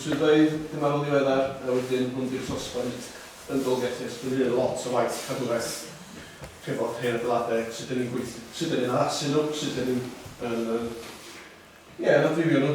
Swyddfeydd cymarol ddiweddar a wedyn hwn di'r sosbant yn Dolgellau. Mae hyn yn lot o waith cadwraeth hefo'r hen adeiladau, sut dan ni'n gweithio, sut dan ni'n addasu nhw, sut dan ni'n, ie, yn amrywio nhw.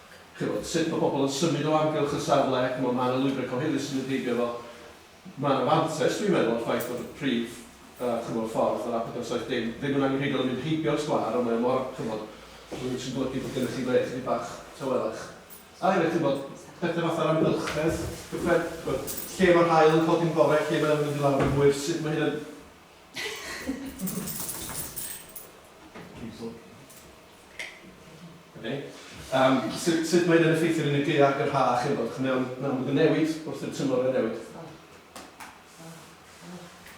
chibod, sut mae pobl yn symud o amgylch y safle, chimod, mae 'na lwybrau cyhoeddus sydd yn heibio fo. Mae 'na fantais, dwi'n meddwl, o'r ffaith bod y prif, yy, chimod, ffordd, yr A470, ddim yn angenrheidiol yn mynd heibio'r sgwâr, ond mae o mor, chimod, rwyt yn golygu bod gennych chi le chydig bach tawelach. A hefyd, chimod, pethe fatha'r amgylchedd gyffred-, chimod, lle mae'r haul yn codi'n bore, lle mae o'n mynd i lawr yn hwyr, sut mae hyn yn... Okay. Um, sut, sut mae'n yn effeithio yn y gaeaf yr ha, chi'n bod, chi'n mewn, mewn bod yn newid wrth y tymor yn newid.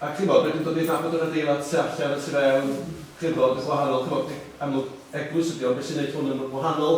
Ac chi'n bod, mae'n dod i'r nabod yr adeilad sy'n allan a sy'n mewn, chi'n bod, yn gwahanol, chi'n bod, amlwg eglwys ydi ond beth sy'n gwneud hwn yn wahanol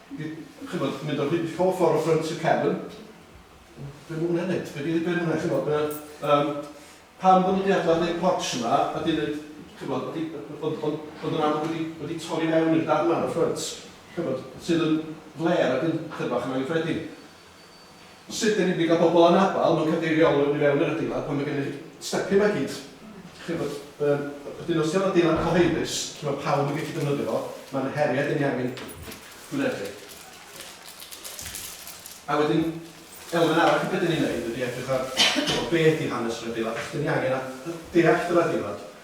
ch'mod, mynd o hyd pob ffor o ffrynt y cefn. Be' ma' hwnna'n neud? Be' 'di be' ma' hwnna ch'mod yy yym pam bo' ni 'di adal neud portsh yma a 'di neud ch'mod a 'di yy yy ond ond ond yn amlwg wedi wedi torri mewn i'r darn 'ma yn y ffrynt ch'mod sydd yn flêr ag yn chyfach yn anghyffredin. Sut dan ni'n mynd i gael pobl anabl mewn cadeirio-olwyn i fewn i'r adeilad pan mae gennych chi stepio yma i gyd? Chi'n gwybod, yym, wedyn os dio'n adeilad cyhoeddus, lle mae pawb yn gallu defnyddio fo, mae yna heriau dan ni angen gwynebu. A wedyn, elfen arall o be dan ni'n ei wneud ydy edrych ar be ydy hanes yr adeilad, achos dan ni angen deall yr adeilad.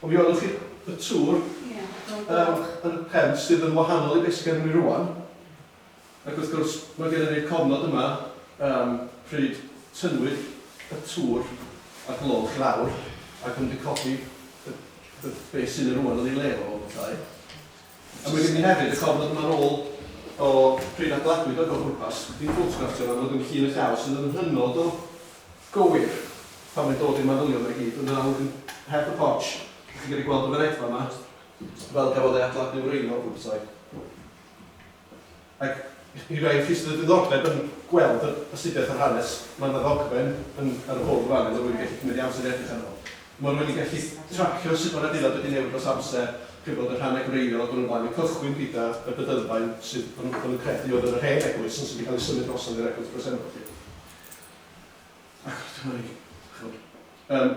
Ond mi welwch chi y tŵr yn y pen sydd yn wahanol i be sydd gennym ni rŵan, ac wrth gwrs mae gennym ni'r cofnod yma pryd tynnwyd y tŵr a'r gloch i lawr ac yn recordio be sydd yna rŵan yn ei le o bethau. A wedyn ni hefyd, y cofnod yma nôl o pryd adladwyd o Go Pwrpas, dim ffotografftio fel bod yn llun y llaw sydd yn hynod o gywir pan mae'n dod i'r manylion yma i gyd, ond yna wedyn heb y porch, dych chi'n gallu gweld y fynedfa yma, fel gafodd ei adladnu wreiddiol, fel petai. Ac i rai o'r chi sydd â diddordeb yn gweld yr astudiaeth a'r hanes, mae yna ddogfen yn ar y bwrdd fan hyn oedd wedi gallu cymryd ei amser i edrych arno fo. Mae o wedi gallu tracio sut mae'r adeilad wedi newid dros amser, chi'n gwybod, y rhannau gwreiddiol ac yn y blaen, yn cychwyn gyda y bydylfaen sydd o'n nhw'n credu oedd yn yr hen eglwys ond sydd wedi cael ei symud drosodd i'r eglwys bresennol 'lly. Ac dyma ni, chi'n gwybod. Yym.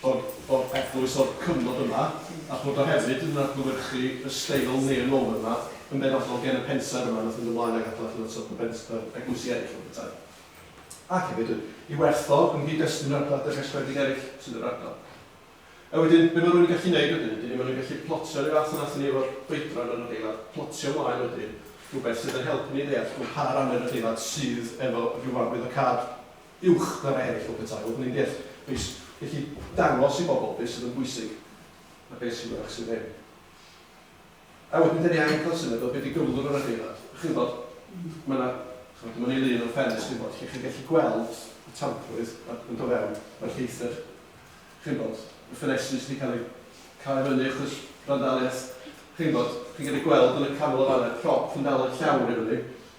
Bod, bod eglwys o'r cyfnod yma, a'ch bod o hefyd yn adlewyrchu y steil neo-Norman 'ma yn benodol gen y pensaer yma wnaeth fynd ymlaen ag adeilad hynod sydyn bent- yy eglwysi eraill fel petai. Ac hefyd y, i werth o, yn nghyd-destun yr adeilad rhestredig eraill sy'n yr ardal. A wedyn, be mae rhywun yn gallu neud wedyn ydy, mae nhw'n gallu plotio, rhyw fath a wnaethon ni efo'r oedran yn yr adeilad, plotio mlaen wedyn rhywbeth sydd yn helpu ni ddeall pa ran o'r adeilad sydd efo ryw arwyddocâd. uwch na rhai eraill o betae, oedd yn ei deall be sy-, felly dangos i bobl be sydd yn bwysig a be sy'n fyrrach sydd ddim. A wedyn dan ni angen cael syniad o be di gyflwr yr adeilad. Chi'n gwybod, mae yna, chimod, dyma ni lun o'r ffenest, chi'n gwybod, lle chi'n gallu gweld y tamprwydd yn dod fewn, mae'r lleithder, chi'n gwybod, y ffenestri sy di cael ei cau i fyny achos randaliaeth, chi'n gwybod, chi'n gallu gweld yn y canol yn fan'na, prop yn dal y llawr i fyny,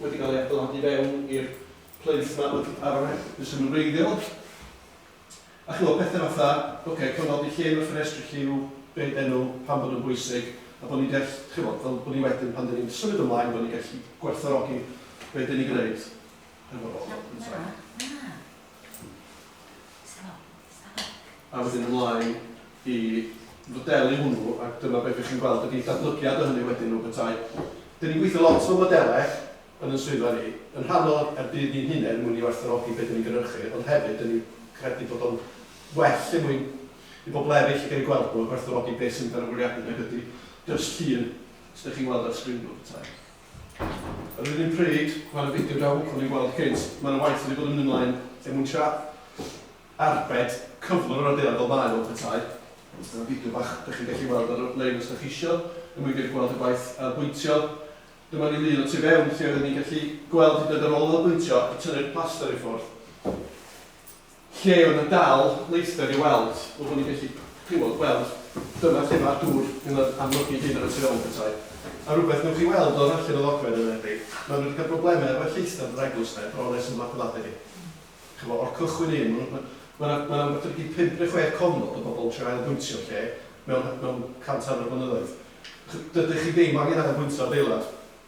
wedi cael ei adeiladu fewn i'r plinth 'ma wrth y parapet, be sy'n wreiddiol. A chimod, pethe fatha, ocê, cofnodi lle ma' ffenestri lliw, be' 'den nhw, pam bod nhw'n bwysig, a bod ni'n deall, chimod, fel bod ni wedyn, pan 'den ni'n symud ymlaen, bod ni'n gallu gwerthfawrogi be' 'den ni'n gwneud. A wedyn ymlaen i fodelu hwnnw, a dyma be dych chi'n gweld ydy datblygiad o hynny wedyn mewn petai. Dyn ni'n gweithio lot efo modelau yn yn swyddfa ni, yn rhannol ar budd ni'n hunain mwyn i werthfawrogi be dyn ni'n gynhyrchu, ond hefyd dyn ni'n credu bod o'n well er mwyn i bobl eraill gael eu gweld nhw a gwerthfawrogi be sy'n mynd ar y bwriadu nag ydy jyst llun sy dych chi'n weld ar sgrin mewn petai. Yr un pryd, mae'r fideo da hwcwn i'n gweld cynt, mae yna waith wedi bod yn mynd ymlaen er mwyn tra arbed cyflwr yr adeilad fel mae o, petai. Dyna fideo bach dych chi'n gallu weld ar y lein os dych chi isio, er mwyn gallu gweld y gwaith ail bwyntio. Dyma ni lun o tu fewn lle oedden ni'n gallu gweld hyd yn oed ar ôl ail bwyntio ac tynnu'r plaster i ffwrdd. Lle oedd 'na dal leithder i'w weld, fel bod ni'n gallu clywed, gweld, dyma lle mae'r dŵr yn yr amlygu ei hun ar y tu ôl petai 'na rywbeth newch chi weld o'r rhallyn o ddogfen yn enwedig, maen nhw wedi cael problemau efo'u lleithder yn yr eglwys 'na bron ers y Bladeladr i ch'bo' o'r cychwyn un, maen nhw, ma' 'na ma' 'na rywbeth wedi pump neu chwe cofnod o bobl yn trio ailfwyntio lle mewn mewn cant hanner o flynyddoedd. Dydych chi ddim angen ailfwyntio adeilad,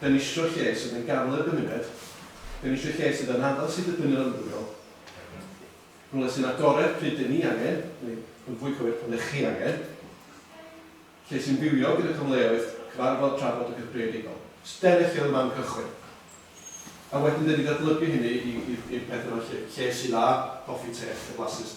Dan ni isio lle sydd yn gadael i'r gymuned, dan ni isio lle sydd yn addas i dipyn yr ymddygiol, rhywle sy'n agored pryd dan ni angen, neu yn fwy cywir pan dych chi angen, lle sy'n fywiog gyda cyfleoedd cyfarfod, trafod ac yn greadigol. So dyna lle oedd y man cychwyn. A wedyn dan ni'n datblygu hynny i'r peth yma lle, lle sy'n dda, coffi, te, a lle blasus.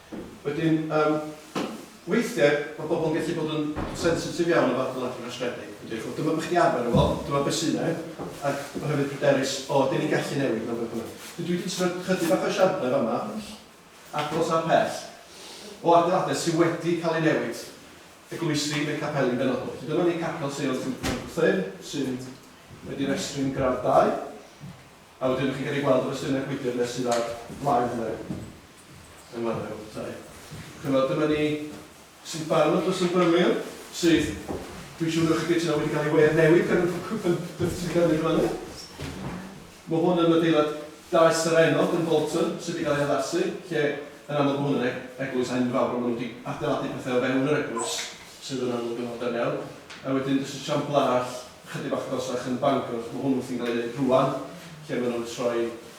Wedyn, yym, weithiau mae pobl yn gallu bod yn sensitif iawn o fath o latin rhwystredig, yn dweud, dyma beth chi'n arfer efo, dyma beth sydd yna, ac mae hefyd pryderus, o, dyn ni'n gallu newid mewn beth bynnag. Dwi wedi trio chydig bach o esiamplau yn fama, agos a phell, o adeiladau sydd wedi cael eu newid, eglwysi neu capeli'n benodol. Felly dyma ni capel Seion Sant Martin, sy'n wedi restru'n gradd dau, a wedyn chi'n gallu gweld y rhestrau gwydr nes sydd ar flaen hynny. Yn wahanol iawn, yntau? Ch'mod, dyma ni sy'n barod dros y Byrlyr, sydd, dwi'n siŵr o'ch chi'n gytuno, wedi cael ei wedd newid gan y Pan Patricia Cymru yn fan'na. Mae hwn yn adeilad daeth Sir Enok yn Bolton, sydd wedi cael ei haddasu, lle yn amlwg mae hwn yn e- eglwys enfawr, ond maen nhw wedi adeiladu pethau o fewn yr eglwys, sydd yn amlwg yn fodern iawn. A wedyn jyst esiampl arall, ychydig bach agosach yn Bangor, mae hwn wrthi'n cael ei wneud rŵan, lle maen nhw'n troi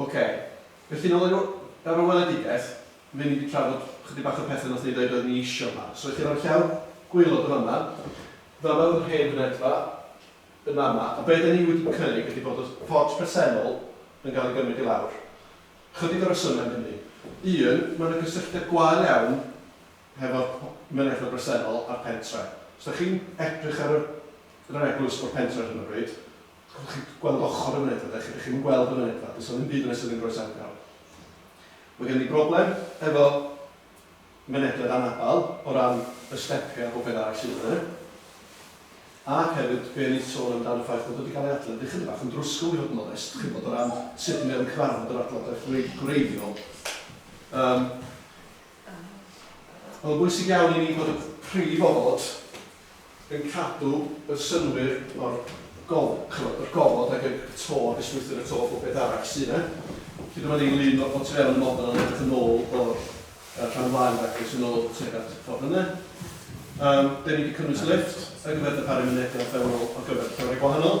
Ok, felly nôl i'r w- yr weledigaeth, ry'n ni 'di trafod chydig bach o pethe nathon ni ddeud oeddwn ni isio 'ma. So i chi roi'r llawr gwaelod yn fama, fama o'dd yr hen fynedfa, yn fama, a be' 'da ni wedi cynnig ydi bod y fforge presennol yn ga'l ei gymryd i lawr. Chydig o resyme am hynny. Un, ma' 'na gysylltiad gwael iawn hefo'r p- mynedfa bresennol a'r pentre. Os 'da chi'n edrych ar y yr eglwys o'r pentre ar hyn o bryd, Allwch chi gweld ochr y mynedfa, dach chi ddim yn gweld y mynedfa, does 'na ddim byd yna sydd yn groesawgar. Mae gen i broblem efo mynedfedd anabal o ran y stepiau a popeth arall sydd yna. Ac hefyd, be o'n i'n sôn amdan y ffaith bod wedi cael ei adfer wedi chydig bach yn drwsgl i fod yn onest, chi'n gwybod, o ran sut mae o'n cyfarfod yr adladaeth gwreiddiol. Yym. Oedd o'n bwysig iawn i ni fod y prif ofod yn cadw y synnwyr o'r gof- ch'mod, yr gofod ag y y to, ag y strwythur y to a phopeth arall sy' 'na. Felly dyma ni, Lyn o o tu fewn y model yn edrych yn ôl o'r yy rhan flaen ac es yn ôl tuag at y ffordd yna. Yym 'dyn ni 'di cynnwys lifft ar gyfer darparu mynediad fewnol ar gyfer llefynnau gwahanol.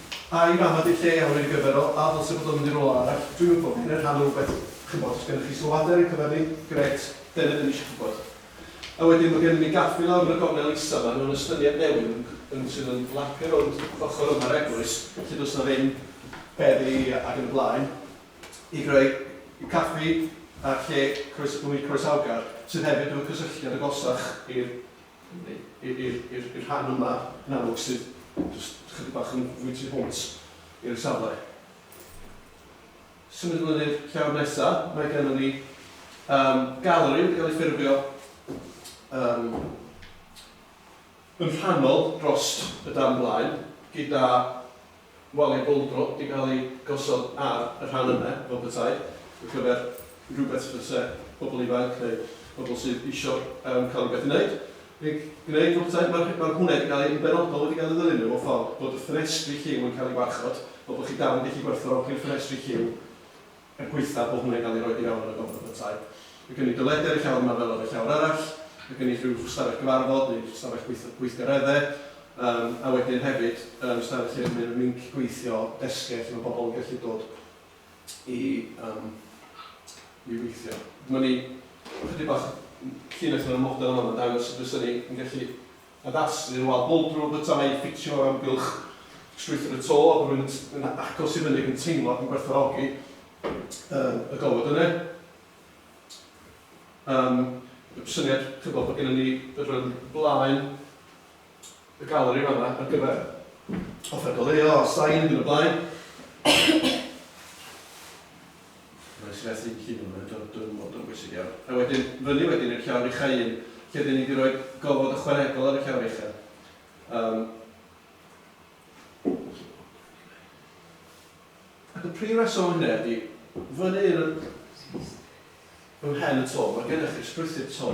Ai mam a dulliau iawn yn gyfrifol, a ddylse bod o'n mynd i rywle arall? Dwi'm yn gofyn, yn rhannu rhywbeth, ch'mbod, os gennych chi sylwadau ar ein cyfer ni, grêt, dyna be ni isio gwybod. A wedyn, mae gennym ni gaffi lawr yn y gornel isa, maen nhw'n estyniad newydd yn yn sydd yn flapio rownd ochr yma'r eglwys, lle does 'na ddim beddi ac yn y blaen, i greu caffi a lle croes- bwyd croesawgar, sydd hefyd efo cysylltiad agosach i'r i'r rhan yma, yn amlwg, sydd jyst chydig bach yn fwy tu hwnt i'r safle. Symud ymlaen i'r llawr nesa, mae gennym ni um, galeri wedi cael ei ffurfio um, yn rhannol dros y dan blaen, gyda waliau bouldro wedi cael eu gosod ar y rhan yma o Abertawe ar gyfer rhywbeth fyse pobl ifanc neu pobl sydd isio yym cael rhywbeth i wneud yn gwneud o Abertawe. Mae'r he- mae'r hwnna wedi cael ei... yn benodol wedi cael ei ddylunio mewn ffordd bod y ffenestri lliw yn cael ei warchod fel bod chi dal yn gallu gwerthfawrogi'r ffenestri lliw er gwaethaf bod hwnna'n cael ei roi i mewn yn y Gofod Abytai. Mae gen i dy led ar y llawr yma fel ar y llawr arall, mae gen i rhyw stafell gyfarfod neu stafell gweith- gweithgareddau, yym, a wedyn hefyd, yym, stafell lle mae rhyw linc gweithio, desgiau lle mae pobl yn gallu dod i, yym, i weithio. Dyma ni ychydig bach llinell o'r model yma, mae'n dangos sut fysen ni yn gallu Addasu y wal bwlb drwy'r bwytai i ffitio o'r amgylch strwythur y to ac rwy'n yn agos i fyny ac yn teimlo ac yn gwerthfawrogi y gofod yna. Yym, y syniad, chibod, bod gennym ni yr yym blaen y galeri yn fan'na ar gyfer offer goleuo a sain ac yn y blaen. Reit, fe ath y ci nôl mewn dwr, dwr mor dwr, bwysig iawn. A wedyn, fyny wedyn i'r llawr ucha' un, lle 'dyn ni 'di roi gofod ychwanegol ar y llawr ucha'. Yym. Ac y prif reswm am hynna ydi, fyny yn y... ym mhen y to, ma' gennych chi strwythur to,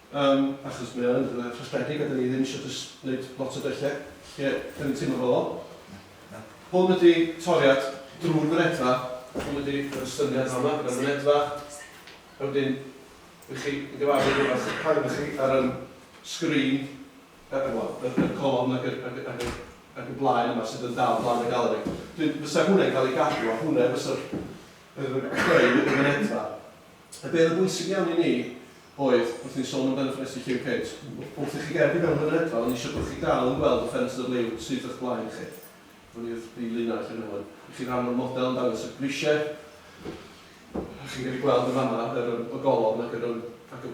Yym, achos mae o yn rhywle rhestredig a 'dan ni ddim isio jyst neud lot o betlle lle 'dan ni'n teimlo fel o. Hwn ydi toriad drw'r fynedfa, hwn ydi yr estyniad fa'ma gyda'r fynedfa, a wedyn dych chi yn gyfarwydd efo eich camera chi ar yym sgrin yy yy wel yr yr colofn ag yr ag y ag y ag y blaen yma sydd yn dal blaen y galeri. Wedyn fysa hwnne'n ca'l ei gadw a hwnne fysa'r yr creu y fynedfa. Y peth yn bwysig iawn i ni oedd, wrth i ni sôn amdan y ffenestri lliw cynt, wrth i chi gerdded i fewn yn yr hedfan, o'n i eisiau bod chi'n dal yn gweld y ffenestr liw sydd o'ch blaen chi. Hwn yw'r prif linell yn fan hwn. I chi ran o'r model yn dangos y grisiau. Chi'n gallu gweld yn fan'na yr, y golofn ac yr, ac y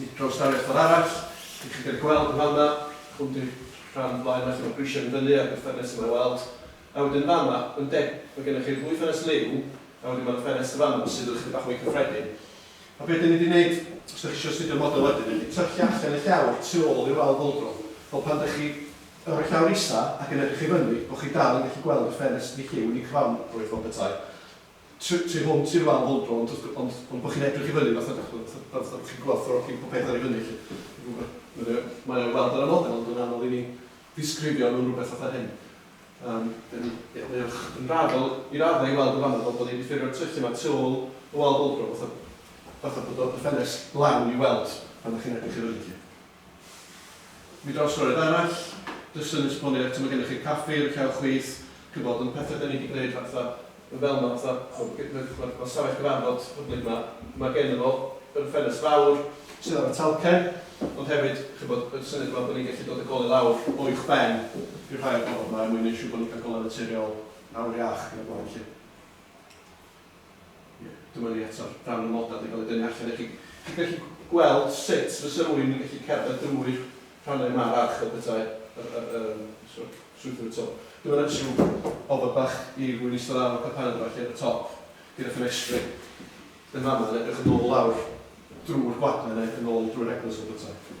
Nid prawsdaliaeth fel arall. Dych chi'n gallu gweld yn fama, hwn di'r rhan flaen fach efo'r grisiau yn fyny a'r ddwy ffenest yma i weld. A wedyn fama, yn de, mae gennych chi'r ddwy ffenest liw, a wedyn mae'r ffenest yn fama sydd yn ychydig bach mwy cyffredin. A be dyn ni 'di wneud, os dych chi isio astudio'r model wedyn, dyn ni 'di trycio allan y llawr tu ôl i'r wal fwldro, fel pan dych chi yn rhoi llawr isa ac yn edrych i fyny, bo' chi dal yn gallu gweld y ffenest liw yn y cromfeydd fel petai. tu, tu hwnt i'r wal hwn dro, ond wrth gwrs, ond, ond bod chi'n edrych i fyny, fatha, dach ch'mod, fatha, fatha, fatha bod chi'n gwerthfawrogi popeth ar ei fyny 'lly. Dwi'n gwybod, mae o, mae o i weld ar y model, ond yn anodd i ni ddisgrifio nhw'n rywbeth fatha hyn. Yym, dan ni, ie, mae o yn raddol, i raddau, i weld yn fan'na, fel bod ni 'di ffurfio'r tyllau 'ma tu ôl y wal bouldrop, fatha, fatha bod o, y ffenest lawn i weld pan dach chi'n edrych i fyny 'lly. Nid oes gorwedd arall, jyst yn esbonio eto, mae gennych chi'r caffi, yr uchel chwith, chi'n gwbod, ond pethau dan ni di gwneud fatha, yn fel ma, fatha, ch'mod, g- ma, ma, ma stafell gyfarfod hyblyg ma, ma geno fo yr ffenest fawr sydd ar y talcen, ond hefyd, chi'n gwbod, y syniad yma bod ni'n gallu dod a golau lawr o uwch ben i'r rhai o'r gofod ma er mwyn neud siŵr bod ni'n cael golau naturiol awyr iach yn y bore felly. Ie, dyma ni eto, rhan o'r modad yn cael ei dynnu allan i chi. Chi'n gallu gweld sut fysa rhywun yn gallu cerdded drwy'r rhannau yma ar arch y petai yr, yr, yr, yym, swydd, swyddfeydd to. Dyma na jiw ofod bach i rhywun eistedd lawr o'r carpanau yma felly ar y top, gyda ffenestri yn fan'na yn edrych yn ôl lawr drwy'r gwadan neu yn ôl drwy'r eglwys fel petai.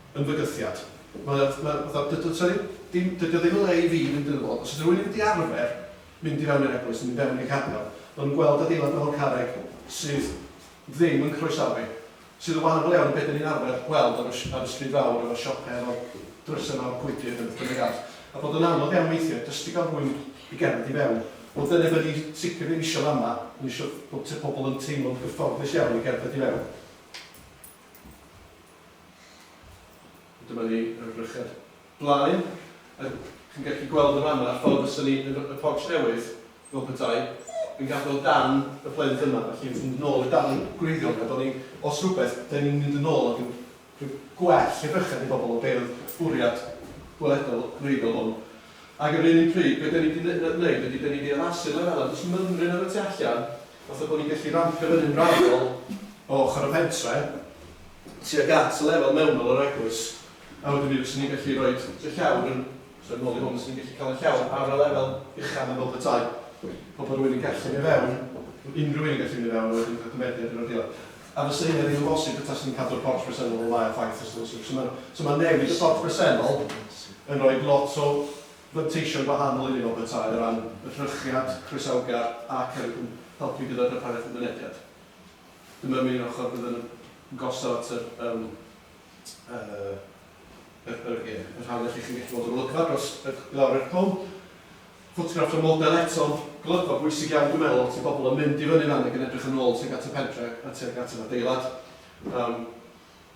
yn fygythiad. Mae o, mae o fatha, does 'na ddim, dim, dydi o ddim yn le i fi fynd ynddo fo. Os ydy rhywun ddim 'di arfer mynd i fewn i'r eglwys, mynd i fewn i'r capel, maen nhw'n gweld adeilad mawr carreg sydd ddim yn croesawu, sydd yn wahanol iawn i be dan ni'n arfer gweld ar y ar y stryd fawr efo siopau efo'r drysau mawr gwydr neu beth bynnag arall, a bod o'n anodd iawn weithiau jyst i gael rhywun i gerdded i fewn. Wel dyna be dan ni sicr ddim isio fa'ma, dan ni isio bod t- pobl yn teimlo'n gyfforddus iawn i gerdded i fewn. Dyma ni ar y brychad blaen, a chi'n gallu gweld yn fan'na ffordd fysa ni yn y porch newydd, fel petai, yn gadael darn y plent yma, felly wrth fynd yn ôl i'r darn gwreiddiol 'na, 'da ni, os rywbeth, 'da ni'n mynd yn ôl ac yn rhoi gwell edrychedd i bobl o be' oedd bwriad gweledol y gwreiddiol hwn. Ag ar yr un pryd, be' 'da ni 'di ne- ne- neud ydi 'da ni 'di addasu lefela, does 'na fymryn ar y tu allan, Wrth y bod ni'n gallu rampio fyny'n raddol o ochr y pentre, tuag at y lefel mewnol o'r eglwys, a wedyn mi fyswn ni'n gallu rhoi y llawr yn, troi yn ôl i hwn, fyswn ni'n gallu cael y llawr ar y lefel ucha' na bob y tai, fel bod rhywun yn gallu mynd i fewn, unrhyw un yn gallu mynd i fewn a wedyn cael cymeriad ar yr adeilad. A fysa hynna ddim yn bosib petasen ni'n cadw'r porch bresennol fel mae o, ffaith os ydyn nhw isio. So ma' so ma' newid y porch bresennol yn rhoi lot o fanteision gwahanol i'r un o Betaer o ran y cynhyrchiad, croesawgar ac yn helpu gyda'r darpariaeth i'r mynediad. Dyma am un ochr bydd yn gosod at yr yym yr yr ie yr hawl i chi chi'n gallu gweld yr olygfa dros yy i lawr i'r cwm. Ffotografft o'r model eto, golygfa bwysig iawn dwi'n meddwl, lot o bobl yn mynd i fyny fan ag yn edrych yn ôl tuag at y pentre a tuag at yr adeilad. Yym.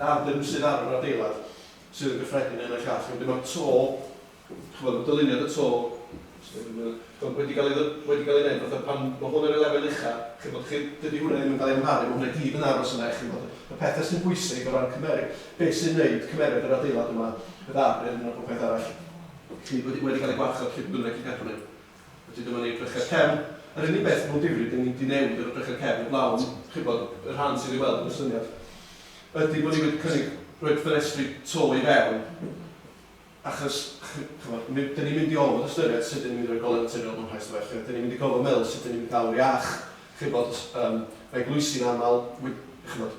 Na'r dyn sydd ar yr adeilad sydd yn gyffredin yn y llall, wedyn ma'r to, ch'mod y dyluniad y to, ch'mod wedi ga'l ei ddy- wedi ga'l ei neud fatha pan ma' hwn ar ei lefel ucha, chi'n gwbod chi dydi hwnna ddim yn ga'l ei amharu, ma' hwnna i gyd yn aros yna chi'n gwbod. Y pethe sy'n bwysig o ran cymere- be' sy'n neud cymeriad yr adeilad yma, y ddadl a popeth arall, chi wedi wedi ga'l ei gwarchod lle bynnag chi'n cadw nw. Wedyn dyma ni'r brecher cefn. Yr unig beth efo difri, dan ni wedi newid yr brecher cefn heblaw am, chi'n gwybod, y rhan sydd i'w weld yn y syniad, ydy bod ni wedi cynnig rhoi ffenestri to i fewn, achos, chi'n gwybod, mi- dan ni'n mynd i orfod ystyried sut dan ni'n mynd i roi golau naturiol mewn rhai stafelloedd, dan ni'n mynd i gorfod meddwl sut dan ni'n mynd i gael yr iach, chi'n gwybod, s- yym, mae eglwysi'n aml, wi- chi'n gwybod.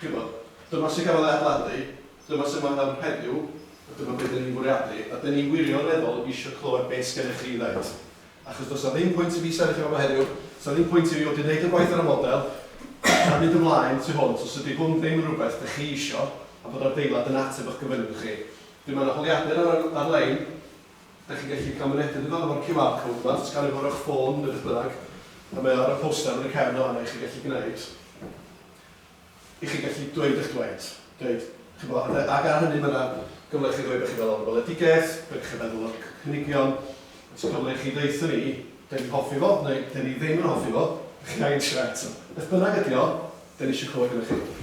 Chibod, dyma sut gafodd e adeiladu, dyma sut mae nawr heddiw, a dyma be dan ni'n fwriadu, a dan ni wirioneddol eisiau clywed be sgennych chi i ddeud. Achos does 'na ddim pwynt i fi sefyll yma heddiw, does 'na ddim pwynt i fi fod wedi gwneud y gwaith ar y model a mynd ymlaen tu hwnt os ydy hwn ddim yn rhywbeth dych chi isio a bod adeilad yn ateb eich gofynion chi. Wedyn mae 'na holiadur ar y ar-lein, dych chi'n gallu cael mynediad iddo fo efo'r QR code 'ma, sganio fo ar eich ffôn neu beth bynnag, a mae o ar y poster yn y cefn yn fan'na i chi gallu gwneud. i chi gallu dweud eich dweud, dweud, chi'n gwybod, ac ac ar hynny mae yna gyfle i chi ddweud bod chi'n meddwl am y weledigaeth, be dych chi'n meddwl o'r cynigion, oes cyfle i chi ddeutha ni, dan ni'n hoffi fo, neu dan ni ddim yn hoffi fo, dych chi'n angen trio eto. Beth bynnag ydy o, dan ni eisiau clywed gynna chi.